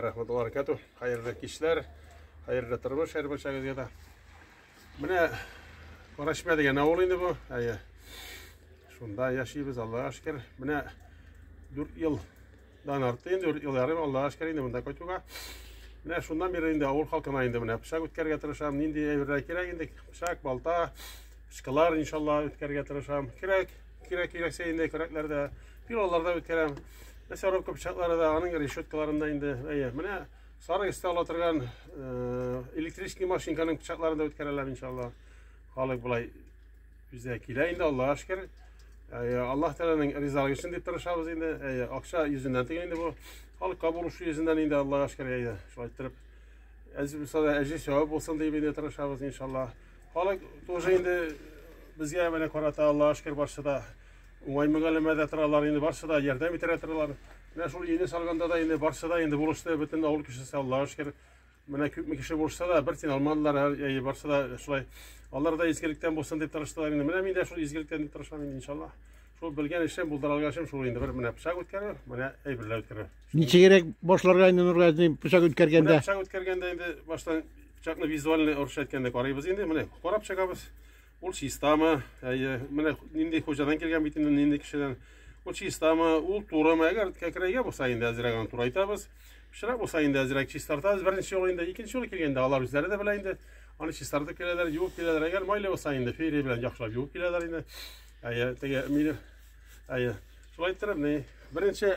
рахматулла баракату хәерле кичләр хәерле тормыш һәр баршагызга да менә карашмә дигән авыл инде бу әйе шунда яшибез аллага шөкер менә дүрт ел Дан арты инде ел ярым Аллага шөкер инде монда кайтуга. Менә шуннан бирле инде авыл халкына инде менә пычак үткәрергә тырышам. Нинди әйберләр кирәк инде? Пычак, балта, пычкылар иншалла үткәрергә тырышам. Кирәк, кирәк кирәксә инде көрәкләрдә, пилаларда үткәрәм. Мясорубка пычаклары да, аның решеткаларында инде. Әйе, менә сары өстә ала торган э, электрический машинканың пычакларын да үткәрәләр иншалла. Халык болай Үзе килә инде, Аллаһ шкер. Аллаһ Тәгаләнең ризалыгы өчен дип тырышабыз инде. Акча йөзеннән түгел инде бу. Халыкка бурыч йөзеннән инде Аллаһ шкер әйдә. Шулай итеп, әҗи булса, әҗи сәвап булсын дип инде тырышабыз иншаллаһ. Халык тоже инде безгә менә карата Аллаһ шкер барсы да уңай мөгаләмәдә торалар инде барсы да ярдәм итәрә торалар. Менә шул өйне салганда да инде барсы да инде булышты бөтен авыл кешесе Аллаһ шкер. Менә күпме кеше булышса да, бер тин алмадылар, әйе, барсы да шулай. Алар да изгелектән булсын дип тырыштылар инде. Менә мин дә шул изгелектән дип тырышам инде, иншалла. Шул белгән эшем, булдыра алган эшем шул инде. Бер менә пычак үткәрү, менә әйберләр үткәрү. Ничегрәк башларга инде Нургаз дин пычак үткәргәндә? Пычак үткәргәндә инде баштан пычакны визуальный орыш әйткәндә карыйбыз инде. Менә карап чыгабыз. Ул чистамы? Әйе, менә нинди хуҗадан килгән бит инде, нинди кешедән. Ул чистамы? Ул турымы? Әгәр кәкрәйгә булса инде әзрәк аны турайтабыз. Пычрак булса инде әзрәк чистартабыз. Беренче юлы инде, икенче юлы килгәндә алар үзләре дә белә инде. Аны чистартып киләләр, юып киләләр. Әгәр майлы булса инде фейри белән яхшылап юып киләләр инде. Әйе, теге мине әйе. Шулай иттереп, ни беренче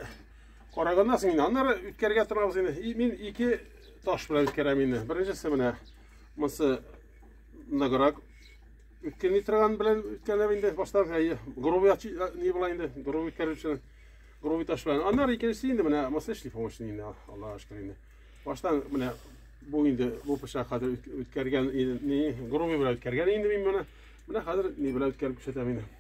караганнан соң инде аннары үткәргә торабыз инде. Мин ике таш белән үткәрәм инде. Беренчесе менә монысы Ныграк үткән торган белән үткәнләр инде баштан грубый не була инде грубый үткәрүче грубый таш белән аннары икенчесе инде менә маса эшли помощник инде аллага шөкер инде баштан менә бу инде бу пычак хәзер үткәргән не грубый белән үткәргән инде мин моны менә хәзер ни белән үткәреп күрсәтәм инде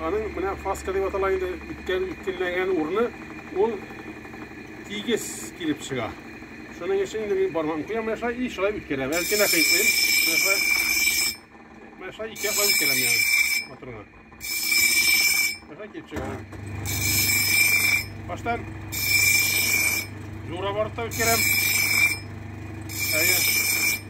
Аның менә фаска дип атала инде үткән үткенләгән урны ул тигез килеп чыга. Шуның өчен инде мин бармам куям яша и шулай үткәрә. Бәлки дә кыйтлыйм. Менә шулай ике яклап үткәрәм яны моторга. Менә килеп чыга. Баштан жура барып та үткәрәм. Әйе.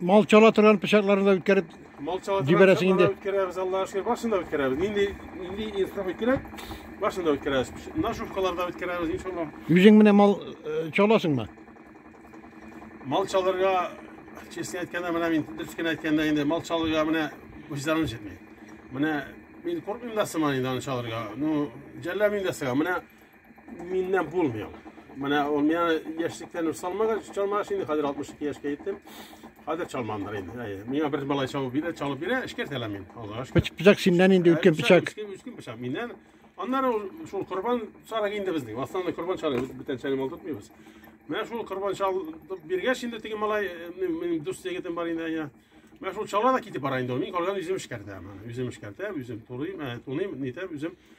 Мал чала торган пычакларны да үткәреп Мал чала Дибәрәсең инде. Үткәрәбез, Аллаһ шөкер, башын да үткәрәбез. Нинди нинди инсаф үткәрәк, башын да үткәрәбез. Нашувкаларда үткәрәбез, иншаллаһ. Үзең менә мал э, чаласыңмы? Мал чалырга, честно әйткәндә, менә мин дөрес кенә әйткәндә инде мал чалырга менә үзләрен җитми. Менә мин куркмыйм да сыман инде аны чалырга. Ну, җәлләмим дә сыга. Менә Миннән булмый ул. Менә ул миңа яшьлектән үк салмагач, чалмагач инде хәзер 62 яшькә җиттем. Хәзер чалмамдыр инде. Әйе. Миңа бер малай чалып бирә, чалып бирә, эшкәрт әле мин. Аллага шөкер. Пыч- Пычак синнән инде үткен пычак. Үткен үткен пычак миннән. Аннары ул шул корбан чарыгы инде безнең. Основной корбан чарыгы без бүтән чәлем алып тотмыйбыз. Менә шул корбан чалып биргәч инде теге малай, э, минем минем дус егетем бар инде, әйе. Менә шул чала да китеп бара инде ул. Мин калган үзем эшкәртәм. Үзем эшкәртәм, үзем турыйм, ә, туныйм, нитәм, үзем